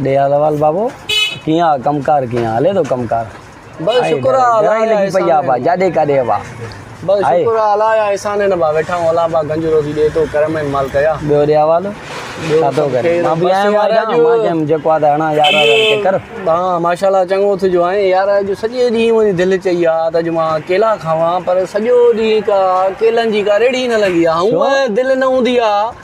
ڏيالوال بابو ڪيئن آ ڪم ڪار ڪيئن هلي ٿو ڪم ڪار بس شڪر آ الله لڳي پئي آ با جاڏي ڪاڏي با بس شڪر آ الله يا احسان نه با ويٺا هون الله با گنج روزي ڏي تو ڪرم ۾ مال ڪيا ٻيو ڏيالوال ڇا ٿو ڪري مان به آيا ماجا مان جم جيڪو آ ته هڻا يار ڪي ڪر ها ماشاءالله چڱو اٿ جو آئين يار اڄ سڄي ڏينهن منهنجي دل چئي آ ته اڄ مان ڪيلا کاوان پر سڄو ڏينهن ڪا ڪيلن جي ڪا ريڙهي نه لڳي آ هون دل نه هوندي آ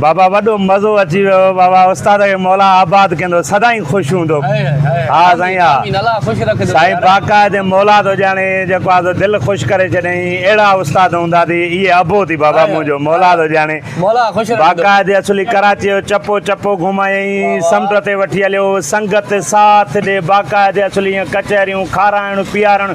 بابا وڏو مزو اچي ويو بابا استاد کي مولا آباد ڪندو سدائين خوش هوندو ها سائين ها سائين باقاعدي مولا ٿو ڄاڻي جيڪو آ سو دل خوش ڪري ڇڏيائين اهڙا استاد هوندا ٿي اهي ابو ٿي بابا منهنجو مولا ٿو ڄاڻي باقاعدي اصولي ڪراچي جو چپو چپو گهمايائين سمنڊ تي وٺي هليو سنگت ساٿ ڏي باقاعدي اصولي ائين ڪچهريون کارائڻ پيارڻ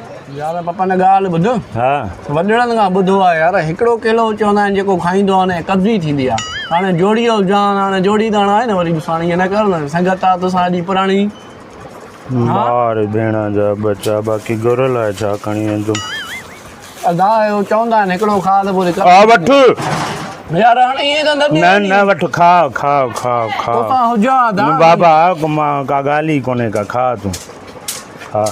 يار پپا نه ڳالهه ٻڌ ها وڏڙن کان ٻڌو آ يار هڪڙو ڪيلو چوندا آهن جيڪو کائيندو آ نه قبضي ٿيندي آ هاڻي جوڙي او جان هاڻي جوڙي تاڻ آهي نه وري مون ساڻ ائين نه ڪر نه سنگت آ تو سان جي پراڻي مار ڀيڻا جا ٻچا باقي گهر لاء ڇا کڻي ويندم ادا او چوندا آهن هڪڙو کاء ته پوري ڪا وٺ يار هاڻي ائين ته نه نه نه وٺ کاء کاء کاء کاء تو سان هجان ادا بابا مان ڪا ڳالهه ئي ڪونهي ڪا کاء تون کاء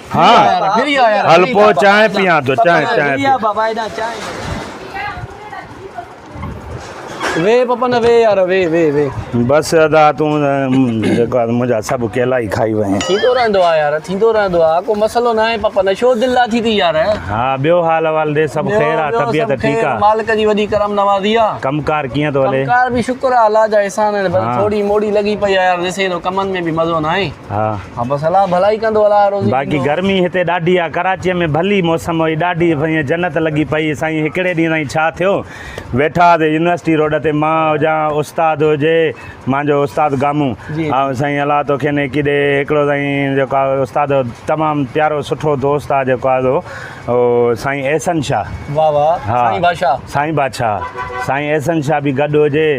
ها هل پوء چانهه پيان ٿو چانهه چانهه وي پپن وي يار وي وي وي بس ادا تون جيڪو منجا سب کيلا ئي کائي وين ٿيندو رهندو آ يار ٿيندو رهندو آ ڪو مسئلو نه آهي پپن شو دل لا ٿي ٿي يار ها ٻيو حال احوال ڏي سب خير آ طبيعت ٺيڪ آ مالڪ جي وڏي کرم نوازي آ ڪم ڪار ڪيئن ٿو هلي ڪم ڪار به شڪر آ الله جا احسان آهن بس ٿوري موڙي لڳي پئي آ يار ڏسين ٿو ڪمن ۾ به مزو نه آهي ها بس الله ڀلائي ڪندو الله روزي ڏيندو. باقي گرمي هتي ڏاڍي آ ڪراچي ۾ ڀلي موسم هئي ڏاڍي سائين جنت لڳي پئي سائين هڪڙي ڏينهن تائين ڇا ٿيو ويٺا هئاسين يونيورسٽي روڊ تي مان هجان استاد هجي مانجو استاد گامون جي جي. آئون سائين الله تو کين هڪي ڏي هڪڙو سائين جيڪو آ استاد تمام پيارو سٺو دوست آ جيڪو آ او سائين احسن شاھ واه واه ها سائين بادشاھ سائين بادشاھ سائين احسن شاھ به گڏ هجي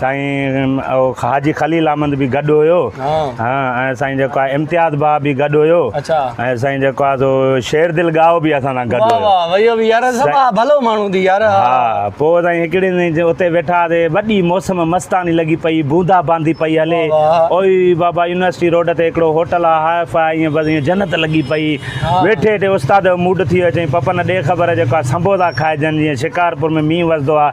سائين او حاجي خليل احمد به گڏ هيو ۽ سائين جيڪو آهي امتياز ڀاء به گڏ هيو ۽ سائين جيڪو آهي سو شير دل ڳاهو به اسان سان گڏ هيو واه واه اهو به يار سڀ ڀلو ماڻهو ٿي يار ها پوء سائين هڪڙي ڏينهن اتي ويٺا هئاسي وڏي موسم مستاني لڳي پئي بوندا باندي پئي هلي اوئي بابا يونيورسٽي روڊ تي هڪڙو هوٽل آهي هاء فاء ائين بس ائين جنت لڳي پئي ويٺي ويٺي استاد جو موڊ ٿي ويو چئي پپن ڏي خبر جيڪو آهي سنبوسا کائجن جيئن شڪارپور ۾ مينهن وسندو آهي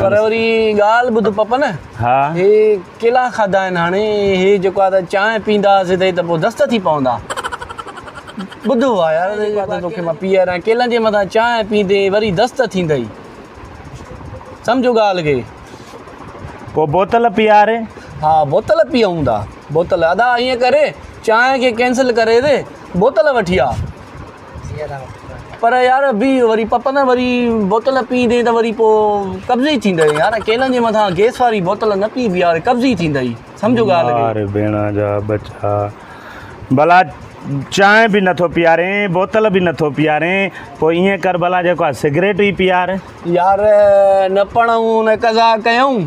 پر وري ڳالهه ٻڌ پپن، ها هي ڪيلا کاڌا آهن هاڻي هي جيڪو آهي ته چانهه پيندا هئاسين ته هي ته پوء دست ٿي پوندا ٻڌ هو آ يار جيڪو آهي ته توکي مان پيئاريان ڪيلن جي مٿان چانهه پيندي وري دست ٿيندئي سمجهو ڳالهه کي پوء بوتل پيئاري ها بوتل پيئون ٿا بوتل ادا ائين ڪري چانهه کي ڪينسل ڪري تي بوتل وٺي آ پر يار بي وري پپن وري بوتل پي دين ته وري پو قبضي ٿيندئي يار ڪيلن جي مٿان گيس واري بوتل نه پي بي يار قبضي ٿيندئي سمجهو ڳالهه کي يار ڀيڻا جا ٻچا ڀلا چانهه به نٿو پيارين بوتل به نٿو پيارين پو ائين ڪر ڀلا جيڪو سگريٽ ئي پيار يار نه پڙهون نه قضا ڪيون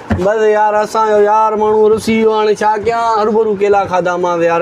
بس يار اسان جو يار ماڻهو رسي ويو هاڻي ڇا ڪيان هربرو ڪيلا کاڌا مانس يار.